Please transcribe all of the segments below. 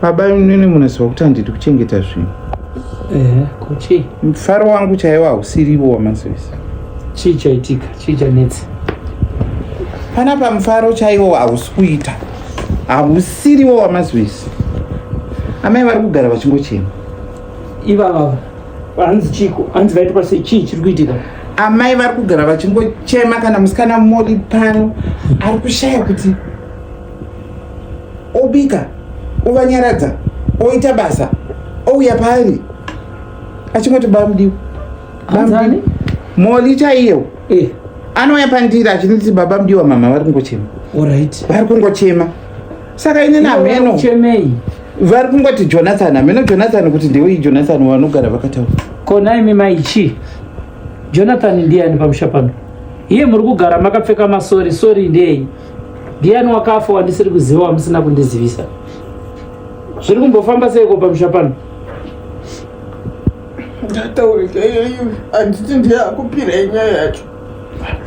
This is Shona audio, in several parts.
baba imwene munaziva kuti handidi kuchengeta zvinhu ehe kuchii mufaro wangu chaiwo hausirivo wamazivisa chii chaitika chii chanetsa pana pamufaro chaiwo hausi kuita hausiriwo wamazivisa amai vari kugara vachingochema ivava hanzi chiko hanzi vaitopa sei chii chiri kuitika amai vari kugara vachingochema kana musikana modi pano ari kushaya kuti obika ovanyaradza oita basa ouya paari achingoti bamudiwa bamudii moli chaiyewo eh. anouya pandiri achinditi baba mudiwa mama vari kungochema vari kungochema saka ini namheno uchemei vari kungoti jonathan hameno jonathan kuti ndewei jonathan vanogara vakataura kona imi maichi jonathan ndiyani pamusha pano iye muri kugara makapfeka masori sori ndei ndiyani wakafa wandisiri kuziva wamusina kundizivisa zviri kumbofamba seiko pamusha pano ndataurika iyoyi handiti ndiye akupirai nyaya yacho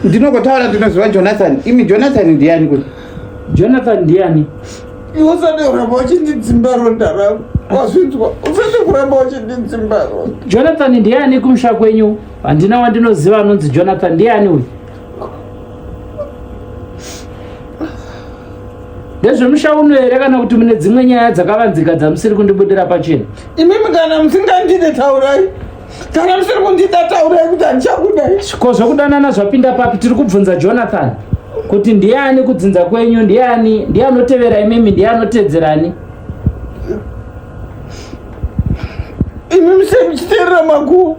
ndinokotaura ndinoziva jonathan imi jonathan ndiyani kuti Jonathan ndiani? Iwe usade kuramba uchindidzimba ronda rangu. Wazvinzwa? Usade kuramba uchindidzimba ronda. Jonathan ndiani kumusha kwenyu? Handina wandinoziva anonzi Jonathan ndiani uyu? ndezvemusha uno here kana kuti mune dzimwe nyaya dzakavanzika dzamusiri kundibudira pachena imimi kana musingandide taurai kana musiri kundida taurai kuti handichakudai ko zvekudanana zvapinda papi tiri kubvunza jonathan kuti ndiani kudzinza kwenyu ndiani ndiye anotevera imimi ndiye anotedzerani imi musiri muchiteerera makuwa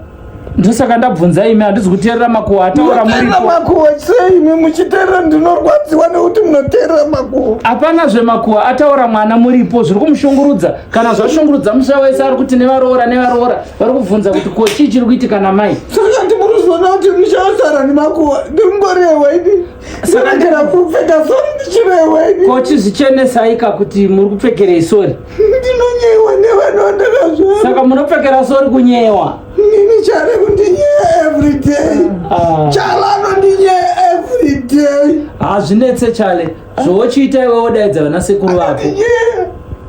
ndosaka ndabvunza imi handizi kuteerera makuwa ataura muteerera makuwa sei imi muchiteerera ndinorwadziwa nekuti munoteerera makuwa hapana zvemakuwa ataura mwana muripo zviri kumushungurudza kana zvashungurudza musha wese ari kuti nevaroora nevaroora vari kubvunza kuti ko chii chiri kuitika namai sakati muri kuzoona kuti ndichasara nemakuwa ndimborewa ini sanakera kupfeka sori ndichirewa ini ko chizvichenesaika kuti muri kupfekerei sori ndinonyewa nevanhu vandakazvara saka munopfekera sori kunyewa nini chare kundinyeya everyday ah. chale anondinyeya everyday hazvinetse ah, chale zvochiita iwe wodaidza vana sekuru vako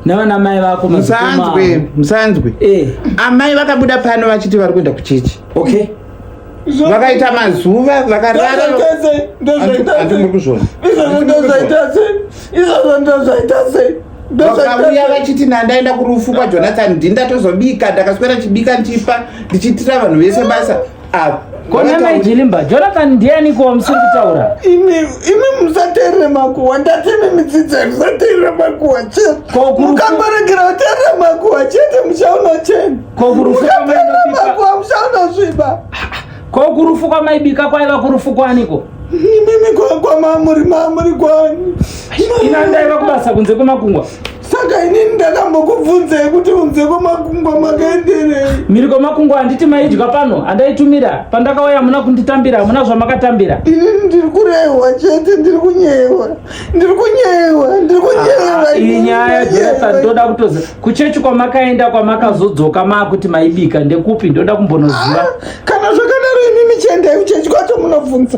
navana mai vako musanzwe musanzwe eh. amai vakabuda pano vachiti vari kuenda kuchechi okay vakaita mazuva vakararaaauya vachiti nandaenda kurufu kwajonathan ndindatozobika ndakaswera chibika ndichipa ndichiitira vanhu vese basa konamai jilimba jonathan ndiani ko musiri kutaura imi imi musateerere makuwa ndati imi midzidzai musateerere makuwa chete mukangoregera kuteerera makuwa chete muchaona cheni mukateerera makuwa muchaona zviba ko kurufu kwamaibika kwaiva kurufu kwaniko imimi kwamamuri mamuri kwani ina ndaiva kubasa kunze kwemakungwa saka inini ndakambokubvunzai kuti unze kwamakungwa makaenderei mhiri kwamakungwa handiti maidya pano handaitumira pandakauya hamuna kunditambira hamuna zvamakatambira inini ndiri kurehwa chete ndiri kunyewa ndiri kunyewa ndiri kunyewa Ah, iyi nyaya jesa ndoda kutoza kuchechi kwamakaenda kwamakazodzoka maakuti maibika ndekupi ndoda kumbonoziva kana zvakadaro imimi chiendai kuchechi kwacho munobvunza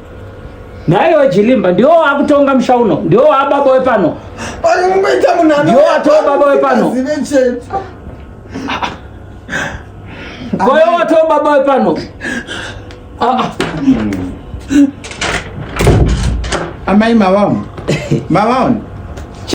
Naye wechilimba ndiwo wakutonga musha uno, ndiwo wababa wepano, ndiwo watova baba wepano, koyo watova baba wepano. Amai mavaona mavaona